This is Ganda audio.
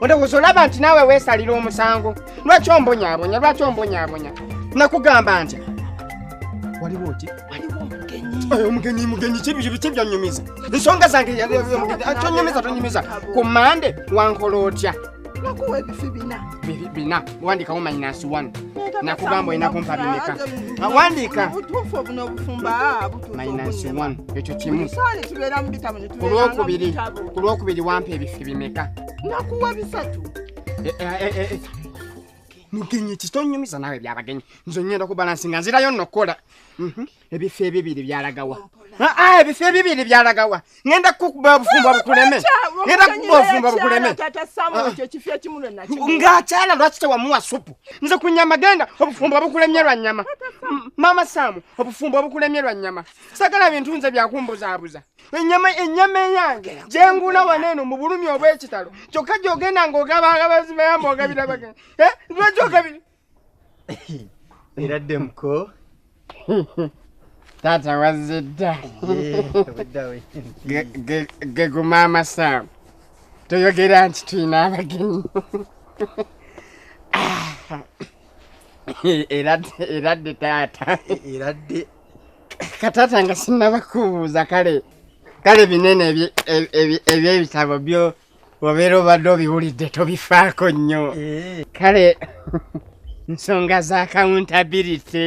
olowooza olaba nti naawe weesalira omusango lwaki ombonyabonya lwaki ombonyabonya nakugamba nti waliwo oti omugenyi mugenyi kibyanyumiza ensonga zange tonyumiza tonyumiza ku mande wankola otya nakuwa ebifi bina bina wandikawo minus one nakugamba olina kumpa bimeka wandika obutuufu obunobufumba minus one ekyo kimu tubeera mubitamu ku lwokubiri ku lwokubiri wampa ebifi bimeka nakuwa bisatu eh, eh, eh, mugenyi kitonyumiza nawe byabagenyi nze ngenda ku balansi nga nzirayo nokukola mhm. ebifo ebibiri byalagawa ah, ah, ebifo ebibiri byalagawa ngenda kukuba obufumbo bukuleme ngenda kukuba obufumbo bukuleme ngaakyala lwaki tewamuwa supu nze ku nyama genda obufumbo bukulemye lwa nyama maama saamu obufumbo bukulemye lwa nyama sagala bintu nze byakumbuzaabuza enyama enyama eyange jengula waneno mu bulumi obw'ekitalo kyokka gyogenda ng'ogaba agabazi bayamba ogabira bagenda eh, lwaki ogabira era ddemuko taata wazze dda geguma amasaamu toyogera nti tulina abagenyi ah. era dde taata era dde katata nga sinaba kubuuza kale kale binene ebyebitabo byo obeera obadde obiwulidde tobifaako nnyo eh. kale nsonga za accountability